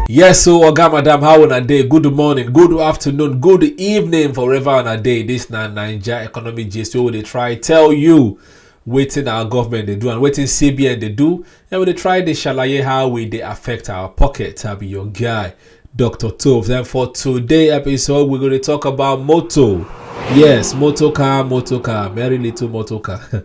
Yes, so Oga Madam, how on a day? Good morning, good afternoon, good evening, forever on a day. This na Niger economy gist wey dey try tell you wetin our government dey do and wetin CBN dey do. And we dey try dey shalaye how we dey affect our pocket. I be your guy, Dr. Tove. Then for today episode, we go dey talk about moto. Yes, motor car, motor car, very little motor car.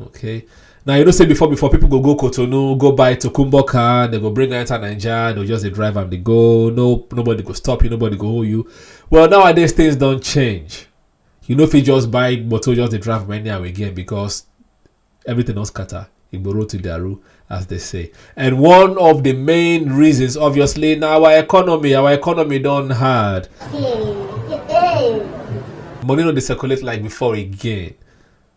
okay now you know say before before people go go cotonou go buy tokumbo car they go bring am enter naija they just dey drive am dey go no nobody go stop you nobody go hold you well nowadays things don change you no fit just buy motor just dey drive am anyhow again because everything don scatter igboro to daru as they say and one of the main reasons obviously na our economy our economy don hard money no dey circulate like before again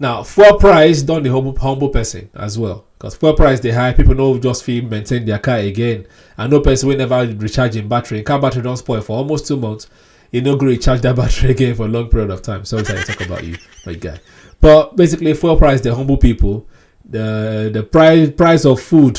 Now, fuel price don dey humble, humble person as well. Because fuel price dey high, people no just fit maintain their car again. And no person wey never recharge im battery. Car battery don spoil for almost two months. You no go recharge that battery again for a long period of time. Sorry, sorry, talk about you, my guy. But basically, fuel price dey humble people. The the price price of food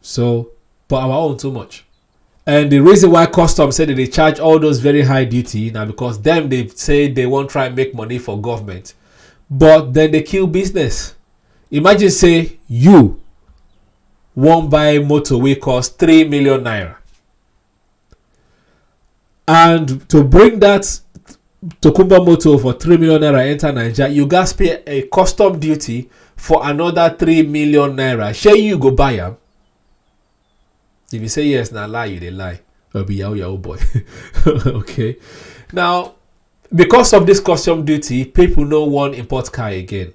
so but our own too much and the reason why customs say that they charge all those very high duty now because them they say they won't try and make money for government but then they kill business imagine say you won't buy motor wey cost 3 million naira And to bring that Tokumba motor for 3 million naira enter Nigeria, you guys pay a custom duty for another 3 million naira. Share you go buy them. If you say yes, now lie, you they lie. I'll be your old boy. okay. Now, because of this custom duty, people no one import car again.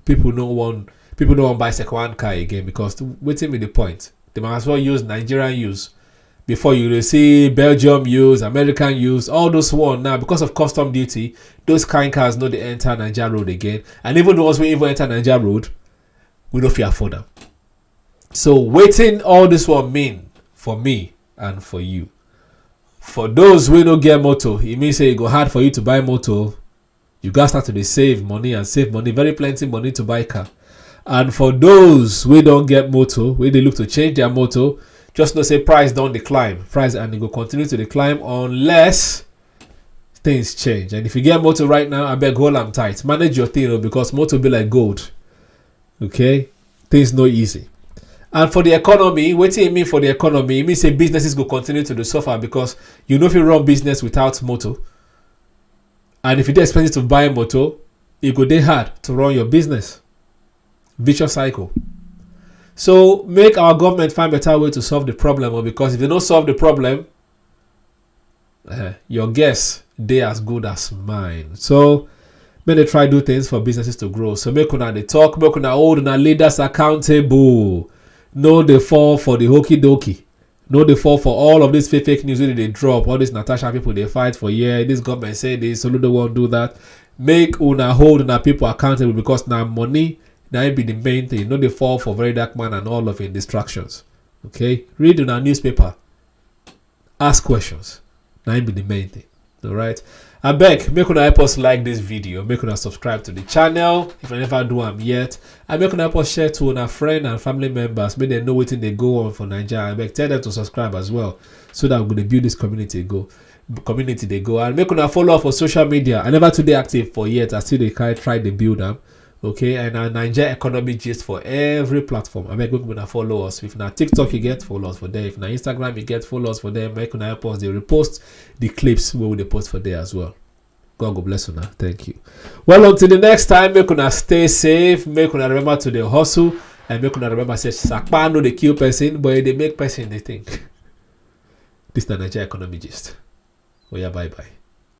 people no wan people no wan buy second hand car again because wetin be the point they might as well use nigerian use before you dey see belgium use american use all those one now because of custom duty those kind cars no dey enter niger road again and even the ones wey even enter niger road we no fit afford am so wetin all this one mean for me and for you for those wey no get motor e mean say e go hard for you to buy motor you gats start to dey save money and save money very plenty money to buy car and for those wey don get motor wey dey look to change their motor just know say price don dey climb price and e go continue to dey climb unless things change and if you get motor right now abeg hold am tight manage your thing o because motor be like gold okay things no easy and for the economy wetin e mean for the economy e mean say businesses go continue to dey suffer because you no fit run business without motor And if e dey expensive to buy motor, e go dey hard to run your business. Vicious cycle. So make our government find better way to solve the problem oh, because if they don't solve the problem, uh, your guess they as good as mine. So make they try do things for businesses to grow. So make una they talk, make una hold una leaders accountable. No they fall for the hokey dokey. no dey fall for all of this fake fake news wey dey dey drop all this natasha people dey fight for here this government say this soludo wan do that make una hold una people accountable because na money na im be the main thing no dey fall for very dark man and all of im distractions okay read una newspaper ask questions na im be the main thing all right i beg make una help us like this video make una subscribe to the channel if i never do am yet and make una help us share to una friend and family members make dem know wetin dey go on for naija i beg tell them to subscribe as well so that we go dey build this community go community dey go and make una follow up for social media i never too dey active for yet i still dey try try dey build am okay and na naija economy gist for every platform abeg make una follow us if na tiktok you get follow us for there if na instagram you get follow us for there make una help us dey repost the clips wey we dey post for there as well god go bless una thank you well until the next time make una stay safe make una remember to dey hustle and make una remember say sapa no dey kill person but e dey make person dey think this na naija economy gist oya bye bye.